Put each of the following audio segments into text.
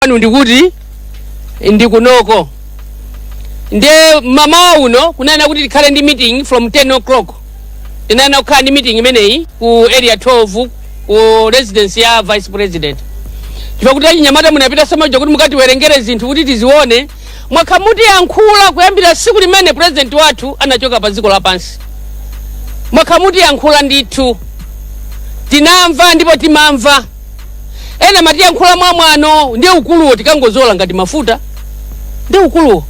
kwanu ndikuti ndikunoko nde mamawa uno kunayena kuti tikhale ndi meeting from 10 o'clock tinayena kukhala ndi meeting imeneyi ku area 12 ku residence ya vice president chifukwa kuti achinyamata munapita samaja kuti mukatiwerengere zinthu kuti tizione mwakha mutiyankhula kuyambira tsiku limene president wathu anachoka pa dziko lapansi mwakha mutiyankhula ndithu tinamva ndipo timamva ena matiyankhula mwa mwano ndi ukuluwo tikangozola ngati mafuta ndi ukuluwo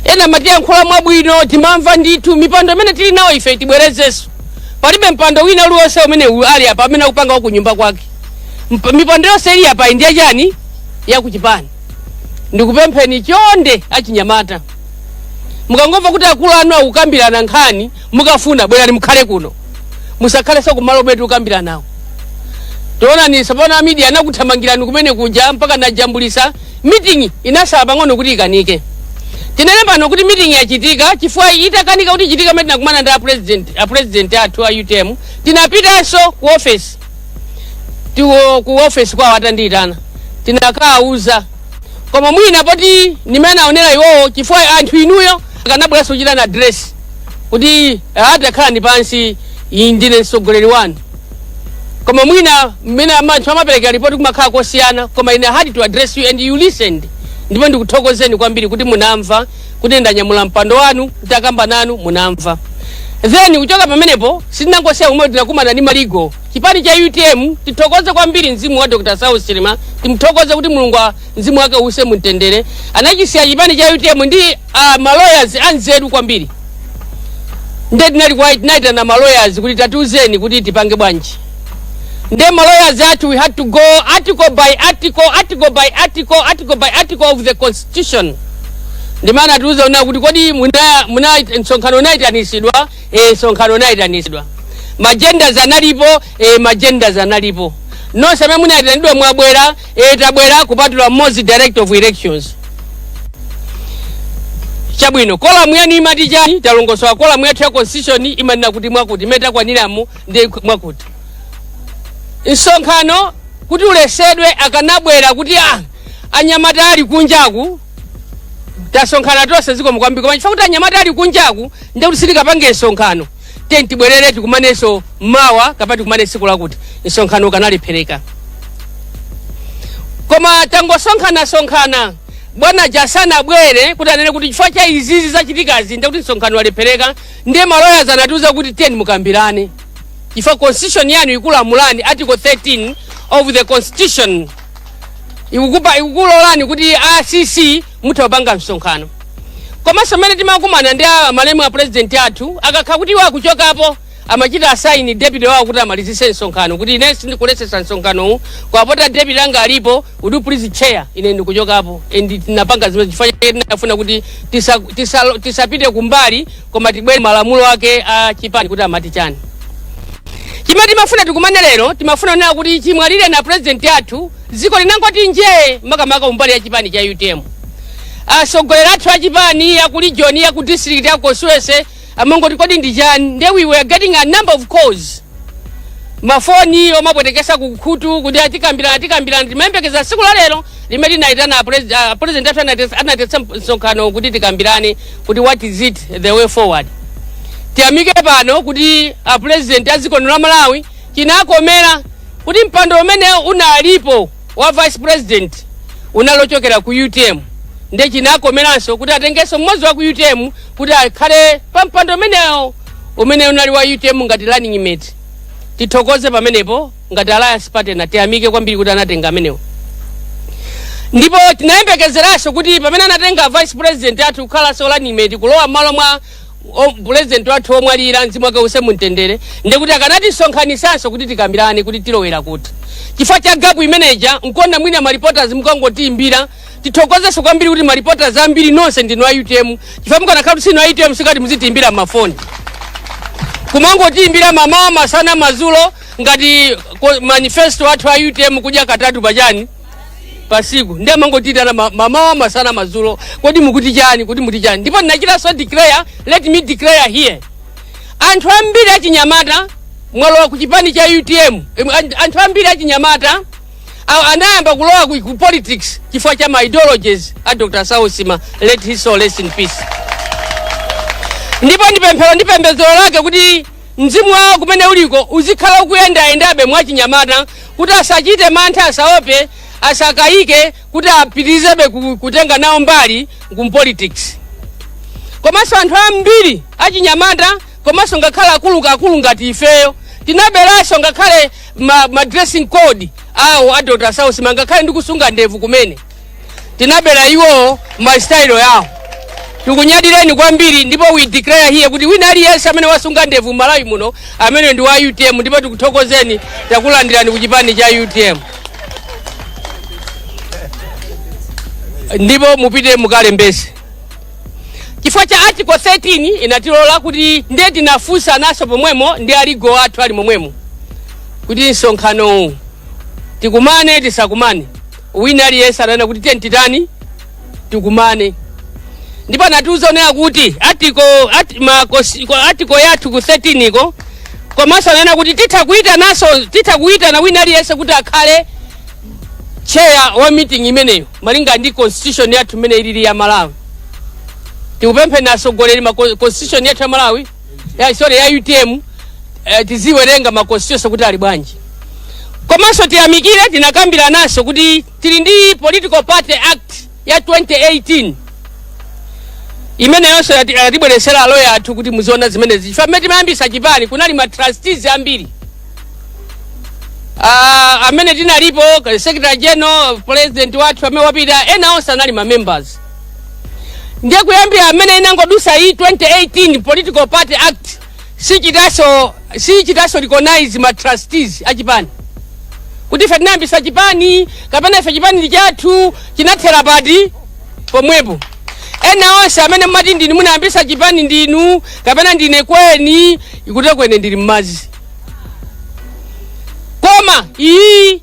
ena matiyankhula mwabwino timamva ndithu mipando imene tili nawo ife tibwerezenso palibe mpando wina uliwonse umene u- ali apa amene akupanga wa kunyumba kwake Mp- mipando yonse ili apa ndi ya chani yakuchipani ndikupempheni chonde achinyamata mukangomva kuti akulu anu akukambirana nkhani mukafuna bwerani mukhale kuno musakhalenso kumalo kumene tikukambiranawo taonani tsopano amidia anakuthamangirani kumene kuja mpaka najambulisa mitingi inatsala pang'ono kuti ikanike tinene pano kuti mitingi yachitika chifukwa itakanika kuti ichitika mene tinakumana ndi apresident apresident athu a utm tinapitanso ku ofesi tiwo ku ofesi kwawo atandiyitana tinakawuza koma mwina poti ndi mmene aonera iwowo chifukwa anthu inuyo akanabweranso kuchita na address kuti "Ah, takhalani pansi ine ndine mtsogoleri wanu koma mwina mmene anthu amapereka ripoti kumakhala kosiyana koma ine I had to address you and you listened ndipo ndikuthokozeni kwambiri kuti munamva kuti ndanyamula mpando wanu nditakamba nanu munamva then kuchoka pamenepo sitinangosiya kumwe tinakumana ndi ma legal chipani cha utm tithokoze kwambiri mzimu wa dr saulos chilima timthokoze kuti mulungu a- mzimu wake uuse mumtendere anachisiya chipani cha utm ndi uh, maloyers anzeru kwambiri nde tinali kwa- tinayitana maloyers kuti tatiuzeni kuti tipange bwanji nde maloyers athu we had to go article by article article by article article by article of the constitution ndimana atiuza una kuti kodi muna- muna- msonkhano unayitanitsidwa eh, msonkhano unayitanitsidwa ma agendas analipo eh, ma agendas analipo nonse amene munayitanidwa mwabwera e tabwera kupatula mmodzi director of elections chabwino quorum yanu imati chani talongosola quorum yathu ya constitution imanena kuti mwakuti mmene takwaniramu ndi mwakuti msonkhano kuti uletsedwe akanabwera kuti ah, anyamata ali kunjaku tasonkhana tonse zikomo kwambiri koma chifukwa kuti anyamata ali kunjaku ndekuti sitikapange msonkhano tiyeni tibwerere tikumanenso mawa kapena tikumane tsiku lakuti msonkhano ukanalephereka koma tangosonkhana-sonkhana bwana jasana abwere kuti anene kuti chifukwa cha izizi zachitikazi ndekuti msonkhano walephereka ndiye ma lawyers anatiuza kuti tiyeni mukambirane chifukwa constitution yanu ikulamulani article 13 of the constitution ikukupa ikukulolani kuti acc mutha kupanga msonkhano komanso mmene timakumana ndi a- malemu a president athu akakhala kuti iwo akuchokapo amachita assign deputy wawo kuti amalizitse msonkhano kuti ine sindikuletsetsa msonkhanowu koma poti deputy anga alipo would you please chair ine ndikuchokapo and tinapanga zimene chifukwa chake tinafuna kuti tisa- tisa- tisapite kumbali koma tibwere malamulo ake a chipani kuti amati chani chimene timafuna tikumane lero timafuna kunena kuti chimwalireni a president athu dziko linangoti njee makamaka kumbali ya chipani cha utm atsogoleri athu a chipani ya ku region ya ku district ya constituency amangoti kodi ndi chani nde we were getting a number of calls mafoni omapwetekesa kukhutu kuti a tikambirana a tikambirana timayembekeza tsiku la lero limene tinayitana a pres- a president athu anati- anaitanitsa msonkhano kuti tikambirane kuti what is it the way forward tiyamike pano kuti a president a dziko lino la malawi chinakomera kuti mpando umene unalipo wa vice president unali ochokera ku utm nde chinakomeranso kuti atengenso mmodzi wa ku utm kuti akhale pa mpando umenewo umene unali wa utm ngati running mate tithokoze pamenepo ngati alliance partner tiyamike kwambiri kuti anatenga amenewo ndipo tinayembekezeranso kuti pamene anatenga vice president athu kukhalanso running mate kulowa mmalo mwa o- pulezidenti wathu womwalira mzimu wake uuse mumtendere ndikuti akanatisonkhanitsanso kuti tikambirane kuti tilowera kuti chifukwa cha gapu imeneja nkuona mwina maripotas mukangotiimbira tithokozenso kwambiri kuti maripotas ambiri nonse ndinu a utm chifukwa mukanakhala kuti sinu a utm sikati muzitiimbira mmafoni kumangotiimbira mmamawa masana mazulo ngati ko- manifesto athu a utm kudya katatu pachani pasiku ndiye amangotitana ma- mmamawa masana madzulo kodi mukuti chani kuti muti chani ndipo ndinachitanso declare let me declare here anthu ambiri achinyamata mwalowa ku chipani cha utm em, an- anthu ambiri achinyamata a- anayamba kulowa ku, ku politics chifukwa cha ma ideologies a dr saulos chilima let his soul rest in peace ndipo ndi pemphero ndi pembedzero lake kuti Mzimu wawo kumene uliko uzikhala ukuyendayendabe mwachinyamata kuti asachite mantha, asaope, asakayike kuti apitirizebe ku- kutenga nawo mbali ku mpolitics. Komanso anthu ambiri achinyamata komanso ngakhale akuluakulu ngati ifeyo tinaberanso ngakhale ma, ma dressing code awo a Dr. Saulos Chilima ngakhale ndikusunga ndevu kumene. tinabera iwowo masitayilo yawo tikunyadireni kwambiri ndipo we declare here kuti wina aliyense amene wasunga ndevu malawi muno amene ndi wa utm ndipo tikuthokozeni takulandirani ku chipani cha utm ndipo mupite mukalembese chifukwa cha article 13 inatilola kuti ndiye tinafunsa naso pomwemo ndi a legal athu ali momwemo kuti msonkhano uwu tikumane tisakumane wina aliyense ananena kuti tiyeni titani tikumane ndipo anatiuza onena kuti article ati, ma, kosi, ko, article yathu ku 13 ko komanso ananena kuti titha kuyitananso titha kuyitana wina aliyense kuti akhale chair wa meeting imeneyo malinga ndi constitution yathu imene ilili ya malawi tikupempheni atsogoleri ma constitution yathu ya malawi ya sorry ya utm eh, tiziwerenga ma constitution kuti ali bwanji komanso tiyamikire tinakambiranaso kuti tili ndi political party act ya 2018 imeneyonso ati- atibweretsera a lawyer athu kuti muziona zimenezi chifukwa mmene timayambisa chipani kunali ma trustees ambiri Ah, amene tinalipo secretary general president wathu amene wapita ena onse anali ma members ndiye kuyambira mmene inangodutsa iyi 2018 political party act sichitaso sichitaso recognize ma trustees achipani kuti ife tinayambisa chipani kapena ife chipani ndi chathu chinathera pati pomwepo ena onse amene mmati ndinu munayambisa chipani ndinu kapena ndine kweni kweni ndili mmadzi koma iyi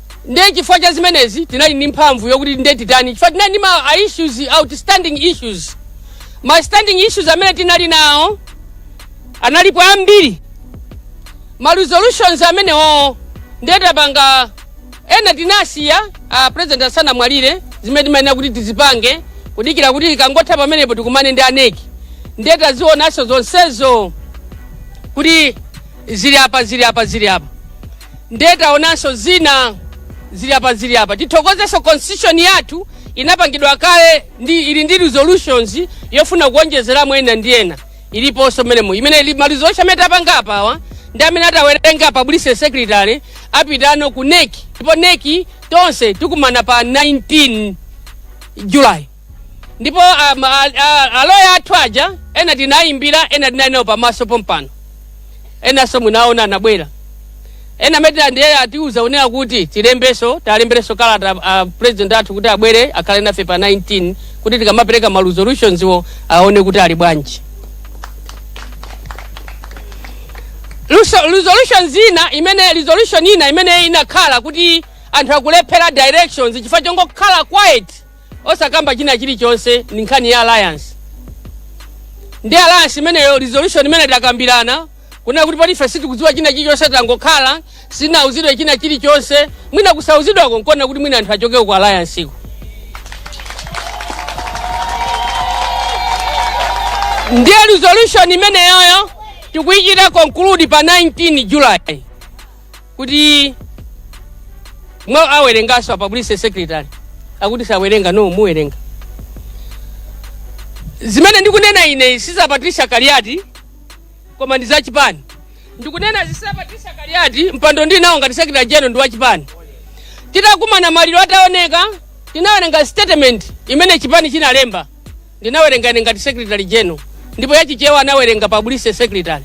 ndiye chifukwa cha zimenezi tinali ndi mphamvu yokuti ndiye titani chifukwa tinali ndi ma a issues outstanding issues ma standing issues amene tinali nawo analipo ambiri ma resolutions amenewo ndiye tapanga ena tinasiya a president asanamwalire zimene timayenera kuti tizipange kudikira kuti ikangotha pamenepo tikumane ndi a nec ndiye tazionanso zonsezo kuti Zili apa zili apa zili apa nde taonanso zina zili apa zili apa tithokozenso constitution yathu inapangidwa kale ndi ili ndi resolutions yofuna kuonjezeramo ena ndi ena iliponso mmenemo imene ili ma resolution amene tapanga apawa ndi amene atawerenge publicity secretary apitano ku nec ndipo nec tonse tikumana pa 19 july ndipo um, a- a- aloya athu aja ena tinayimbira ena tinali nawo pamaso pompano enanso munaona anabwera ena amene ndiye atiuza kunena kuti tilembenso talemberenso kalata a president athu kuti abwere akhale nafe pa 19 kuti tikamapereka ma resolutions wo aone kuti ali bwanji Luso- resolution zina imene resolution ina imene inakhala kuti anthu akulephera directions chifukwa chongokhala quiet osakamba china chilichonse ndi nkhani ya alliance ndi alliance imeneyo resolution imene takambirana kunena kuti poti ife sitikudziwa china chilichonse tangokhala sitinauzidwe china chilichonse mwina kusauzidwako nkuona kuti mwina anthu achokako ku alliance-ko ndiye resolution imeneyoyo tikuyichita conclude pa 19 july kuti mwa awerenganso apa publicity secretary akuti sawerenga no muwerenga zimene ndikunena ine si za patricia kaliati koma ndi za chipani ndikunena si za patricia kaliati mpando ndinawo ngati secretary general ndi wa chipani titakumana maliro ataoneka tinawerenga statement imene chipani chinalemba Ndinawerenga ine ngati secretary general ndipo ya Chichewa anawerenga publicity secretary.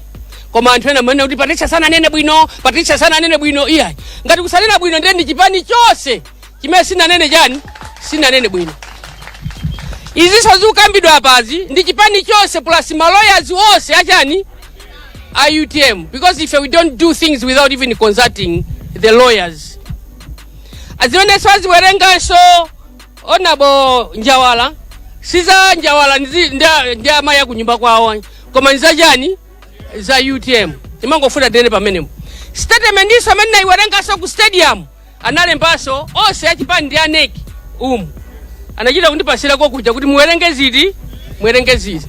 Koma anthu ena mumanena kuti Patricia sananene bwino, Patricia sananene bwino iya. Ngati kusanena bwino ndiye ndi chipani chonse chimene sinanene chani? Sinanene bwino. Izi zozikukambidwa apazi ndi chipani chonse plus ma lawyers onse achani a UTM because if we don't do things without even consulting the lawyers. Zimenenso aziwerenganso honourable njawala siza njawala ndi- ndi- ndi amayi akunyumba kwawo koma nizachani za utm timangofuna tinene pamenepo statement inso imene nayiwerengaso ku stadium analembaso onse achipani ndi a NEC umu anachita kundipasirako kuja kuti muwerenge izi muwerenge izi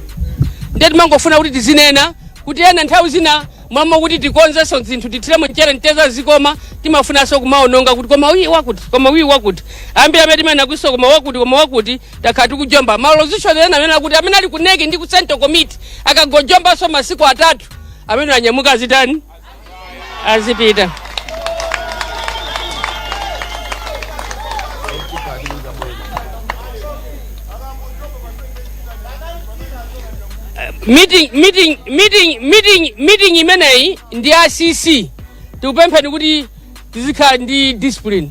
ndiye timangofuna kuti tizinena kuti ena nthawi zina mmalo moti tikonzenso zinthu tithiremo mchere mteteza zikoma timafunanso kumaononga kuti koma uyi wakuti koma uyi wakuti ambiri amene timanena kutinso koma wakuti koma wakuti takhala tikujomba ma resolution ena amene akuti amene ali ku NEC ndi ku central committee akangojombanso masiku atatu amene anyamuka azitani azipita meeting imeneyi ndi ya cc tikupempheni kuti tizikhala ndi discipline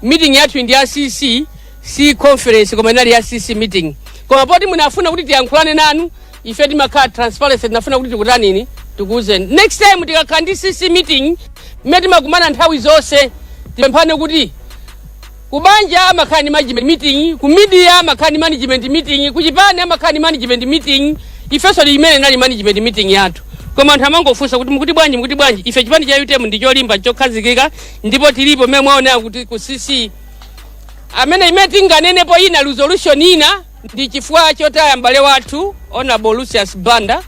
meeting yathu ndi ya cc si conference koma inali ya cc meeting koma poti munafuna kuti tiyankhulane nanu ife timakhala transparency tinafuna kuti tikutanini tikuwuzeni next time tikakhala ndi cc meeting imene timakumana nthawi zonse tipemphane kuti Kubanja amakhala ndi management meeting, ku media amakhala ndi management meeting, ku chipani amakhala ndi management meeting. Ifenso ndi imene inali management meeting yathu. Koma anthu amangofunsa kuti mukuti bwanji mukuti bwanji. Ife chipani cha UTM ndi cholimba chokhazikika ndipo tilipo mmene mwaonera kuti ku CEC amene imene tinganenepo ina resolution ina ndi chifukwa chotaya m'bale wathu honorable Lucius Banda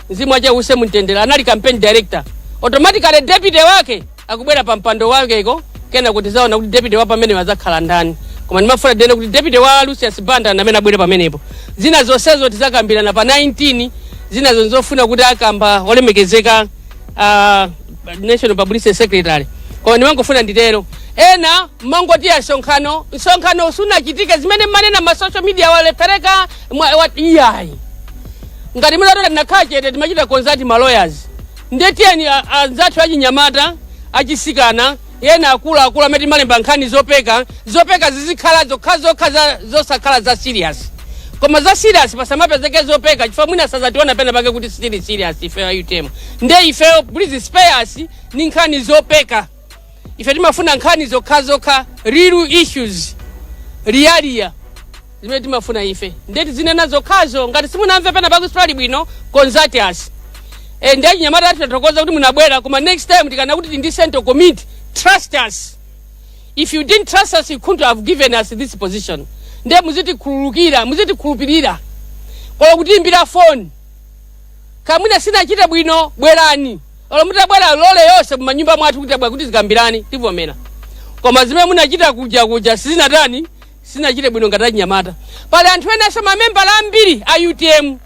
mzimu wache uuse mumtendere anali campaign director automatically deputy wake akubwera pa mpando wakeko kenako tizaona kuti deputy wa pamenepo azakhala ndani koma ndimafuna tinene kuti deputy wa lucius banda ndi amene abwere pamenepo zina zonsezo tizakambirana pa 19 zina zofuna kuti akamba olemekezeka uh, national publicity secretary koma ndimangofuna nditero ena mangoti a msonkhano msonkhano usunachitike zimene mmanena ma social media walepereka mwa- wa- iyayi ngati munatola tinakhala chete timachita consult ma lawyers nde tiyeni a- anzathu achinyamata achisikana ena akuluakulu amene timalemba nkhani zopeka zopeka zizikhala zokhazokha za- zosakhala za serious koma za serious pasamapezeke zopeka chifukwa mwina sazationa pena pake kuti sitili serious ifeyo a UTM nde ifeyo please spare us ndi nkhani zopeka ife timafuna nkhani zokhazokha real issues leya leya zimene timafuna ife ndiye tizinena zokhazo ngati simunamve pena pake pali bwino consult us e, ndiye achinyamata athu tathokoza kuti munabwera koma next time tikanena kuti ndi central committee trust us if you didn't trust us you couldn't have given us this position ndiye muzitikhululukira muzitikhulupirira olo kutiimbira phone Kaya mwina sinachite bwino bwerani. Olo mutabwera lole yonse mumanyumba mwathu kuti tabwera kuti tizakambirane tivomera. Koma zimene munachita kuja kuja sizina tani sinachite bwino ngati achinyamata. Pali anthu enanso mamembala ambiri a UTM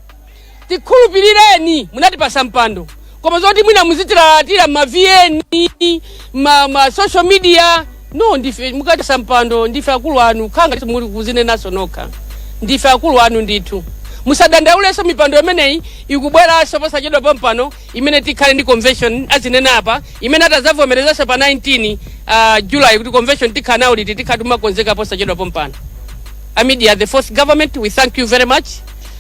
tikhulupirireni munatipasa mpando koma zoti mwina muzitilalatira ma vn ma, ma social media no ndife munatipatsa mpando ndife akulu anu khanga ndithu muli kuzinenaso nokha ndife akulu anu ndithu musadandaulenso mipando imeneyi ikubweranso posachedwa pompano imene tikhala ndi convention azinena apa imene atazavomerezanso pa 19 uh, july kuti convention tikhala nayo liti tikhala titakonzeka posachedwa pompano amidia the fourth government we thank you very much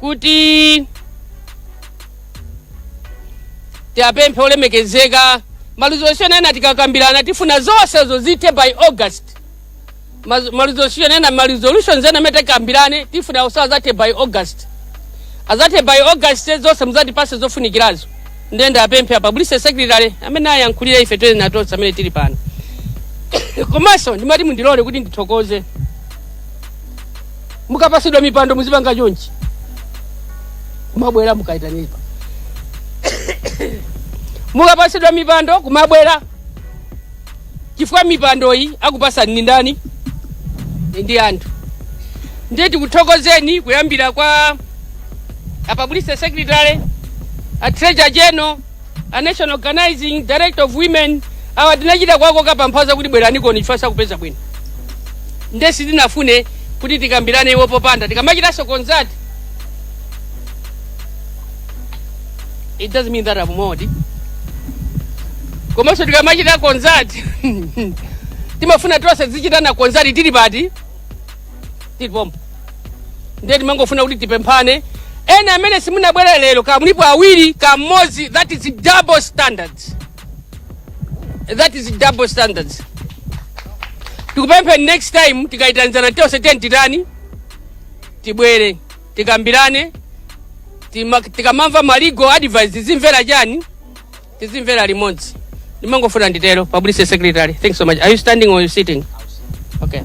kuti tiwapemphe olemekezeka maresolution ena tikakambirana tifuna zonsezo zithe by august maresolution ena maresolutions ena amene takambirana tifuna onse azathe by august azathe by august zonse muzatipase zofunikirazo ndiye ndiwapemphe a publicity secretary amene ayankhulire ife tonse tonse amene tili pano komanso ndimati mundilole kuti ndithokoze mukapasidwa mipando muzipanga chonchi kumabwera mukaitanipa mukapasidwa mipando kumabwera chifukwa mipandoyi akupasani ni ndani ndi anthu ndiye tikuthokozeni kuyambira kwa a publicity secretary a treasurer general a national organizing director of women awa tinachita kuwakoka paphaza kuti bweraniko chifa sakupeza bwino nde sitinafune kuti tikambirane iwo popanda tikamachitanso concert it doesn't mean that a mmodzi komanso tikamachita concert timafuna tonse tizichitana concert tili pati tili pompo ndiye timangofuna kuti tipemphane ena amene simunabwera lero kumalipo awiri kamodzi that is double standards that is double standards tikupemphe next time tikayitanizana tonse tiyeni titani tibwere tikambirane tima- tikamamva ma legal advice zimvera chani tizimvera limodzi ndimangofuna nditero publicity secretary thanks so much are you standing or you sitting okay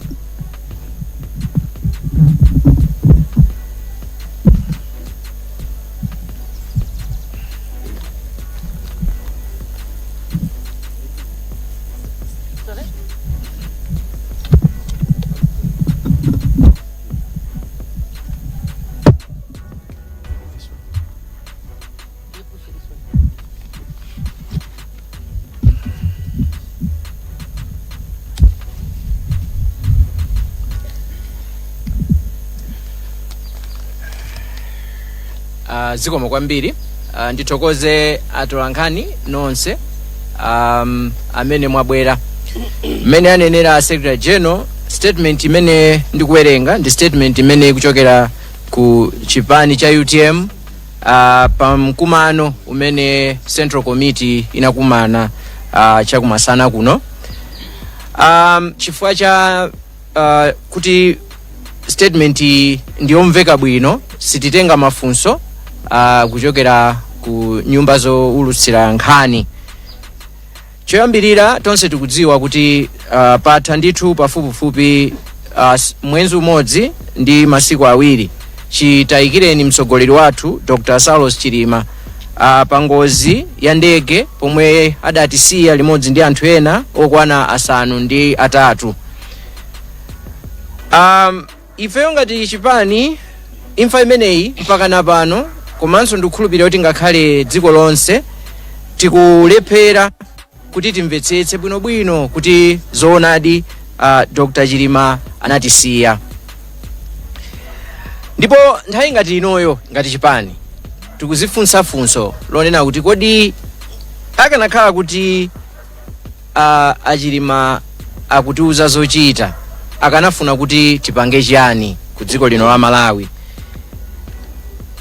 uh, zikomo kwambiri uh, ndithokoze atolankhani nonse um, amene mwabwera mmene anenera secretary general statement imene ndikuwerenga ndi statement imene ikuchokera ku chipani cha utm Uh, pa mkumano umene central committee inakumana uh, chakumasana kuno um, chifukwa cha uh, kuti statement iyi ndiyomveka bwino sititenga mafunso uh, kuchokera ku nyumba zowulutsira nkhani Choyambirira tonse tikudziwa kuti uh, patha ndithu pafupifupi uh, s- mwezi umodzi ndi masiku awiri chitayikireni mtsogoleri wathu Dr. Saulos Chilima uh, pa ngozi ya ndege pomwe adatisiya limodzi ndi anthu ena okwana asanu ndi atatu um, Ifeyo ngati chipani imfa imeneyi mpakana pano komanso ndikukhulupirira kuti ngakhale dziko lonse tikulephera kuti timvetsetse bwinobwino kuti zoonadi uh, Dr. Chilima anatisiya ndipo nthawi ngati inoyo ngati chipani tikuzifunsa funso lonena kuti kodi akanakhala kuti a achilima akutiuza zochita akanafuna kuti tipange chiyani ku dziko lino la malawi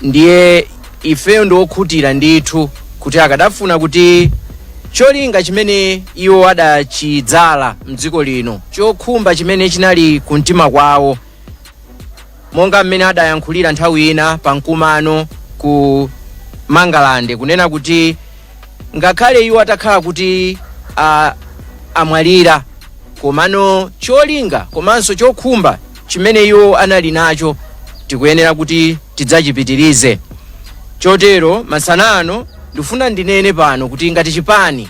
ndiye ifeyo ndiokhutira ndithu kuti akanafuna kuti cholinga chimene iwo adachidzala mdziko lino chokhumba chimene chinali kumtima kwawo monga mmene adayankhulira nthawi ina pa mkumano ku mangalande kunena kuti ngakhale iwo atakhala kuti a, amwalira komano cholinga komanso chokhumba chimene iwo anali nacho tikuyenera kuti tidzachipitirize chotero masanano ndifuna ndinene pano kuti ngati chipani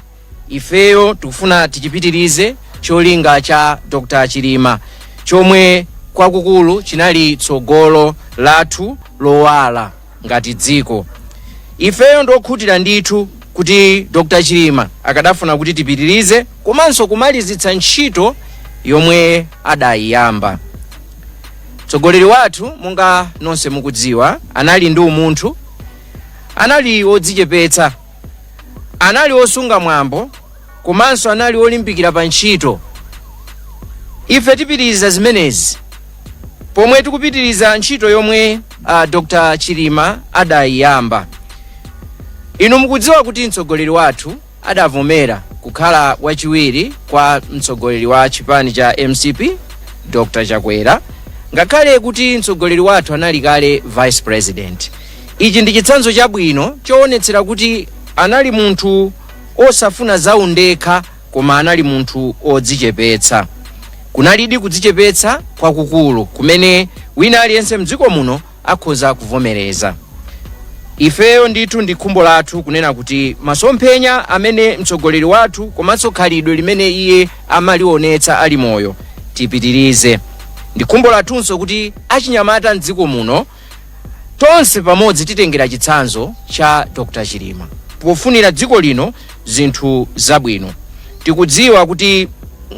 ifeyo tikufuna tichipitirize cholinga cha Dr. Chilima chomwe kwakukulu chinali tsogolo lathu lowala ngati dziko. Ifeyo ndiokhutira ndithu kuti Dr. Chilima akadafuna kuti tipitirize komanso kumalizitsa ntchito yomwe adayiyamba. Mtsogoleri wathu monga nonse mukudziwa anali ndi umunthu, anali wodzichepetsa anali osunga mwambo komanso anali olimbikira pa ntchito ife tipitiriza zimenezi pomwe tikupitiriza ntchito yomwe uh, dr chilima adayiyamba inu mukudziwa kuti mtsogoleri wathu adavomera kukhala wachiwiri kwa mtsogoleri wa chipani cha mcp dr chakwera ngakhale kuti mtsogoleri wathu anali kale vice president Ichi ndi chitsanzo chabwino choonetsera kuti anali munthu osafuna za undekha koma anali munthu odzichepetsa. Kunalidi kudzichepetsa kwakukulu kumene wina aliyense mdziko muno akhoza kuvomereza. Ifeyo ndithu ndi khumbo lathu kunena kuti masomphenya amene mtsogoleri wathu komanso khalidwe limene iye amalionetsa ali moyo tipitirize. Ndi khumbo lathunso kuti achinyamata mdziko muno Tonse pamodzi titengera chitsanzo cha Dr Chilima pofunira dziko lino zinthu zabwino. Tikudziwa kuti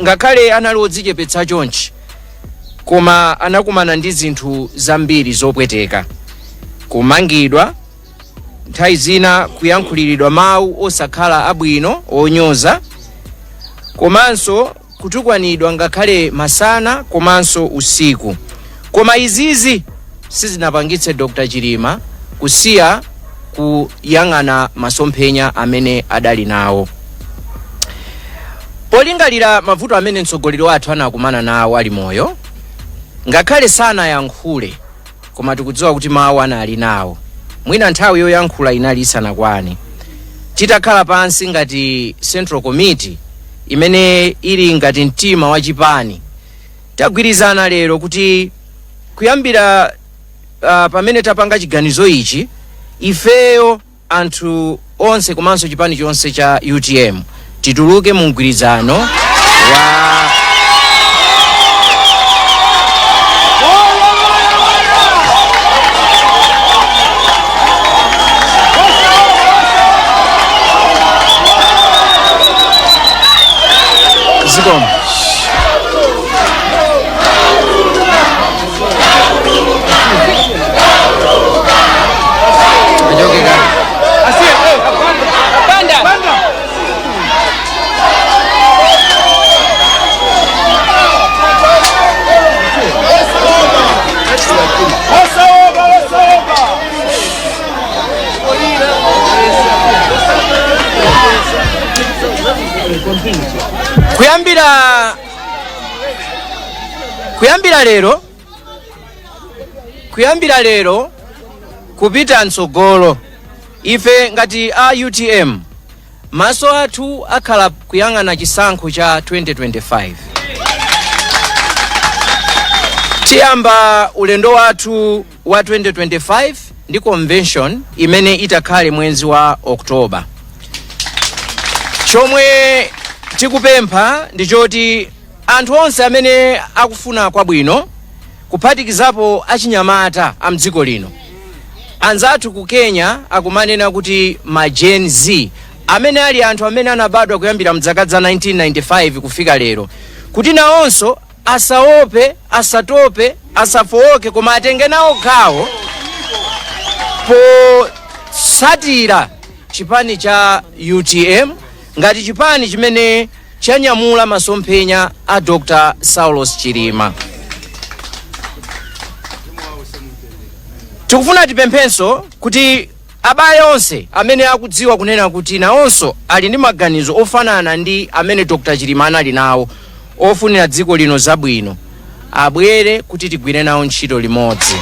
ngakhale anali odzichepetsa chonchi koma anakumana ndi zinthu zambiri zopweteka, kumangidwa, nthawi zina kuyankhuliridwa mawu osakhala abwino onyoza komanso kutukwanidwa ngakhale masana komanso usiku koma izizi sizinapangitse Dr Chilima kusiya kuyang'ana masomphenya amene adali nawo polingalira mavuto amene mtsogoleri wathu anakumana nawo ali moyo ngakhale sanayankhule koma tikudziwa kuti mawu anali nawo mwina nthawi yoyankhula inali isanakwane titakhala pansi ngati central committee imene ili ngati mtima wa chipani tagwirizana lero kuti kuyambira uh, pamene tapanga chiganizo ichi ifeyo anthu onse komanso chipani chonse cha utm tituluke mu mgwirizano wa zikomo kuyambira kuyambira lero kupita mtsogolo ife ngati a utm maso athu akhala kuyang'ana chisankho cha 2025 tiyamba ulendo wathu wa 2025 ndi convention imene itakhale mwezi wa October. Chomwe tikupempha ndi choti anthu onse amene akufuna kwabwino kuphatikizapo achinyamata a mdziko lino anzathu ku Kenya akumanena kuti ma Gen Z amene ali anthu amene anabadwa kuyambira mzaka za 1995 kufika lero kuti nawonso Asaope, asatope, asafooke koma atenge nawo gawo potsatira chipani cha utm ngati chipani chimene chanyamula masomphenya a dr saulos chilima tikufuna tipemphenso kuti Abale onse amene akudziwa kunena kuti nawonso ali ndi maganizo ofanana ndi amene Dr Chilima anali nawo ofunira dziko lino zabwino abwere kuti tigwire nawo ntchito limodzi.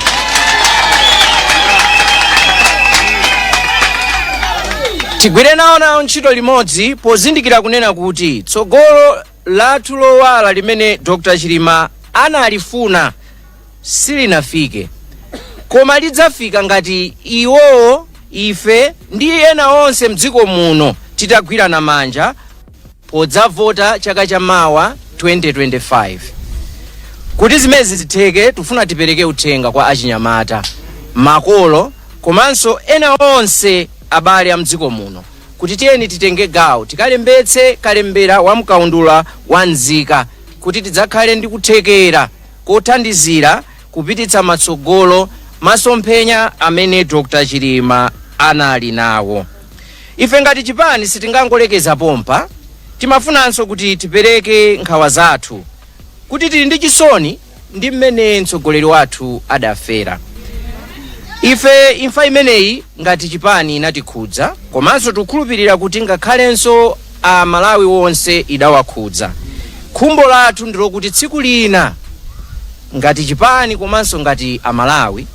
Tigwire nawo nawo ntchito limodzi pozindikira kunena kuti tsogolo lathu lowala limene Dr Chilima analifuna silinafike koma lidzafika ngati iwowo ife ndi ena onse mdziko muno titagwirana manja podzavota chaka cha mawa 2025 kuti zimenezi zitheke tufuna tipereke uthenga kwa achinyamata makolo komanso ena onse abale a mdziko muno kuti tiyeni titenge gawo tikalembetse kalembera wa mkaundula wa nzika kuti tidzakhale ndi kuthekera kothandizira kupititsa matsogolo masomphenya amene Dr Chilima anali nawo. Ife ngati chipani sitingangolekeza pompa, timafunanso kuti tipereke nkhawa zathu kuti tili ndi chisoni ndi mmene mtsogoleri wathu adafera ife imfa imeneyi ngati chipani inatikhudza komanso tikukhulupirira kuti ngakhalenso a malawi wonse idawakhudza khumbo lathu ndilokuti tsiku lina ngati chipani komanso ngati a malawi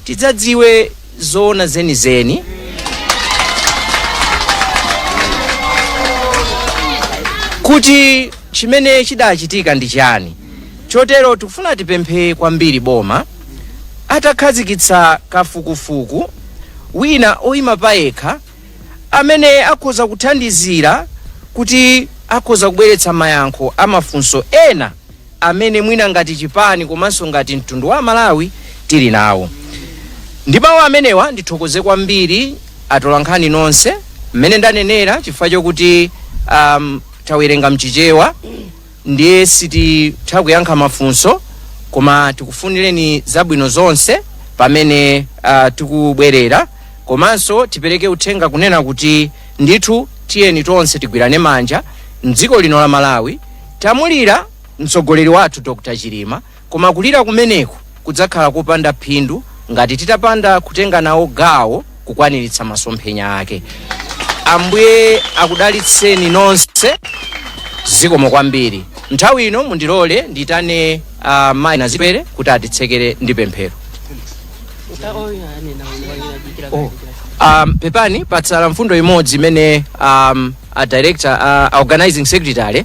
tidzadziwe zoona zenizeni kuti chimene chidachitika ndi chani Chotero tikufuna tipemphe kwambiri boma atakhazikitsa kafukufuku wina oima payekha amene akhoza kuthandizira kuti akhoza kubweretsa mayankho a mafunso ena amene mwina ngati chipani komanso ngati mtundu wa aMalawi tili nawo. Ndi mawu amenewa ndithokoze kwambiri atolankhani nonse mmene ndanenera chifukwa chokuti um, tawerenga mchichewa ndiye sititha kuyankha mafunso koma tikufunireni zabwino zonse pamene uh, tikubwerera komanso tipereke uthenga kunena kuti ndithu tiyeni tonse tigwirane manja mdziko lino la malawi tamulira mtsogoleri wathu dr chilima Koma kulira kumeneku kudzakhala kopanda phindu ngati titapanda kutenga nawo gawo kukwaniritsa masomphenya ake. Ambuye akudalitseni nonse. Zikomo kwambiri. Nthawi ino mundilole ndiyitane uh, Mayi Nazipere kuti atitsekere ndi pemphero. Oh. Um, pepani patsala mfundo imodzi imene um, a director a, a organizing secretary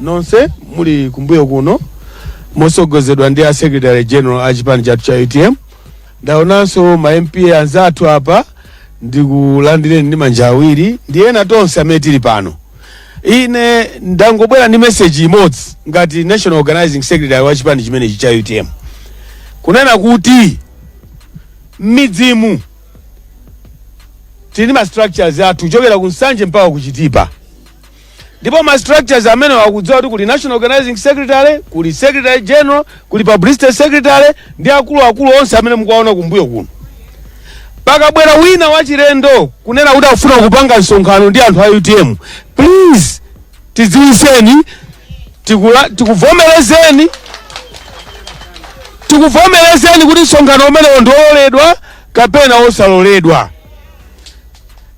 Nonse muli kumbuyo kuno motsogozedwa ndi a secretary general a chipani chathu cha utm ndaonanso ma MP anzathu apa ndikulandireni ndi manja awiri ndi ena tonse amene tili pano ine ndangobwera ndi message imodzi ngati national organizing secretary wa chipani chimenechi cha utm kunena kuti m'midzimu tili ndi ma structures athu kuchokera ku nsanje mpaka ku chitipa ndipo ma structures amenewa akudziwa kuti kuli national organizing secretary kuli secretary general kuli publicity secretary ndi akuluakulu onse amene mukuwaona kumbuyo kuno pakabwera wina wachilendo kunena kuti akufuna kupanga msonkhano ndi anthu a utm please tidziwiseni tikuvomerezeni kuti msonkhano umenewo ndi wololedwa kapena wosaloledwa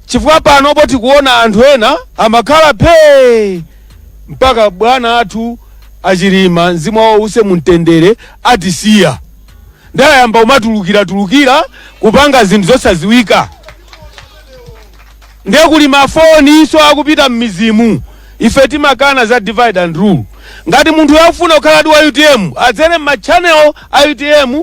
Chifukwa panopo tikuona anthu ena amakhala phee mpaka bwana athu a Chilima mzimu wawo uuse mu mtendere atisiya nde ayamba kumatulukiratulukira kupanga zinthu zosadziwika nde kuli mafoninso akupita m'mizimu ife timakana za divide and rule ngati munthuyo akufuna kukhala wa utm adzere m'machannel a utm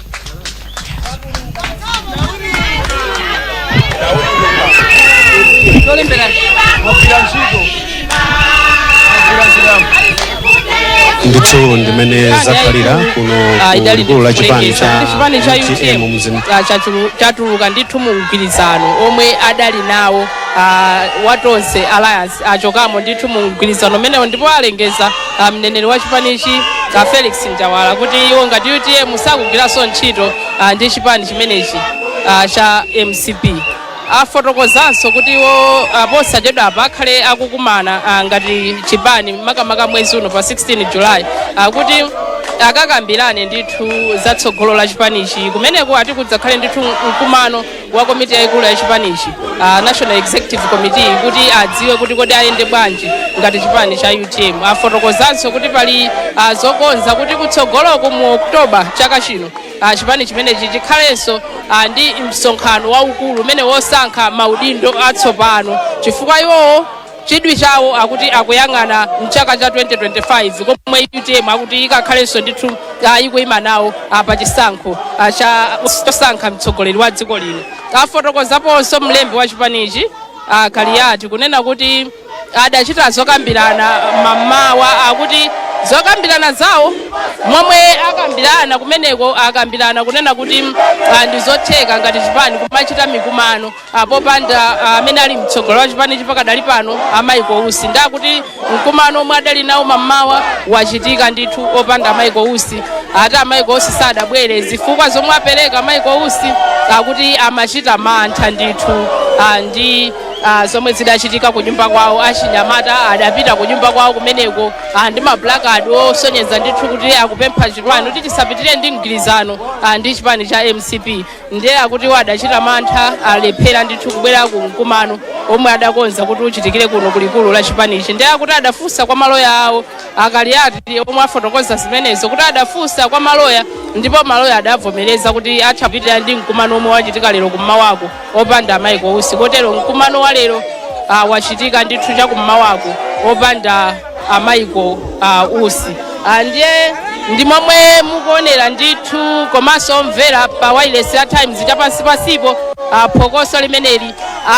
ndithu ndimene zakhalira kuno Ah, idali kulikulu la chipani ndikufunikisa. cha Kuti chipani cha utm mzim utm ah, chachulu- chatuluka ndithu mu mgwirizano omwe adali nawo ah, wa tonse alliance achokamo ndithu mu mgwirizano umenewo ndipo alengeza ah, mneneri wa chipanichi ah, felix njawala kuti iwo ngati utm sakugwiranso ntchito ah, ndi chipani chimenechi ah, cha mcp afotokozanso kuti iwo ah, posachedwa apa akhale akukumana ah, ngati chipani makamaka mwezi uno pa 16 julayi ah, kuti akakambirane ndithu za tsogolo la chipanichi kumeneko ati kudzakhale ndithu mkumano wa komiti yayikulu ya chipanichi uh, national executive committee kuti adziwe kuti kodi ayende bwanji ngati chipani cha utm afotokozanso kuti pali uh, zokonza kuti kutsogoloku mu oktoba chaka chino uh, chipani chimenechi chikhalenso uh, ndi msonkhano waukulu umene wosankha maudindo atsopano chifukwa iwowo chidwi chawo akuti akuyang'ana mchaka cha 2025 komwe utm akuti ikakhalenso ndithu ah, ikuyima nawo ah, pa chisankho ah, cha chosankha mtsogoleri wa dziko lino afotokozaponso mlembi wa chipanichi a kaliyati kunena kuti adachita zokambirana mamawa akuti zokambirana zawo momwe akambirana kumeneko akambirana kunena kuti ah, ndi zotheka ngati chipani kumachita mikumano Ah, popanda ah, amene ali mtsogoleri wa chipanichi pakadali pano a michael usi nde akuti mkumano omwe adali nawo mammawa wachitika ndithu opanda a michael usi ati a michael usi sadabwere zifukwa zomwe apereka a michael usi akuti amachita mantha ndithu ah, ndi ah, zomwe zidachitika ku nyumba kwawo achinyamata adapita ku nyumba kwawo kumeneko ah, ndi maplakadi osonyeza ndithu kuti akupempha chipani kuti chisapitire ndi mgwirizano ah, ndi chipani cha mcp ndiye akuti iwo adachita mantha alephera ndithu kubwera ku mkumano omwe adakonza kuti uchitikire kuno kulikulu la chipanichi ndiye akuti adafunsa kwa maloya awo akaliati omwe afotokoza zimenezo kuti adafunsa kwa maloya ndipo maloya adavomereza kuti atha kupitira ndi mkumano omwe wachitika lero kummawaku opanda a Michael Usi kotero mkumano wa lero ah, wachitika ndithu chakummawaku opanda a Michael Usi Ah, ndiye ndi momwe mukuonera ndithu komanso omvera pa wailesi ya Times cha pansi pansipo ah, phokoso limeneli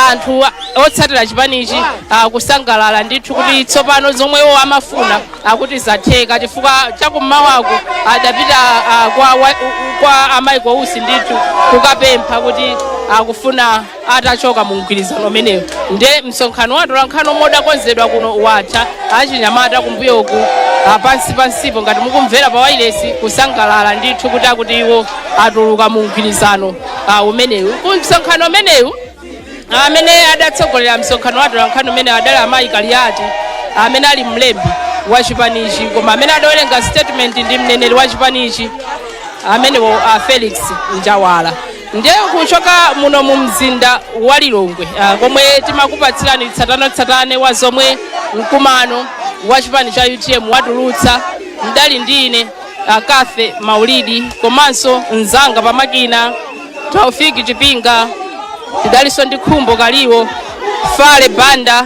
anthu a- otsatira chipanichi ah, kusangalala ndithu kuti tsopano zomwe iwo amafuna akuti zatheka chifukwa chakummawaku adapita ah, kwa, wa- kwa a Michael Usi ndithu kukapempha kuti akufuna atachoka mu mgwirizano umenewu nde msonkhano wa atolankhani omwe udakonzedwa kuno watha achinyamata kumbuyo uku ah, pansi pansipo ngati mukumvera pa wailesi kusangalala ndithu kuti akuti iwo atuluka mu mgwirizano ah, umenewu ku msonkhano umenewu amene adatsogolera msonkhano wa atolankhani umene adali amayi kaliyati amene ali mlembi wa chipanichi koma amene adawerenga statement ndi mneneri wa chipanichi amenewo a felix njawala ndiye kuchoka muno mu mzinda wa lilongwe ah, komwe timakupatsirani tsatanetsatane wa zomwe mkumano wa chipani cha utm watulutsa mdali ndi ine ah, Cathy maulidi komanso mzanga pamakina taufiki chipinga tidalinso ndi khumbo kaliwo fale banda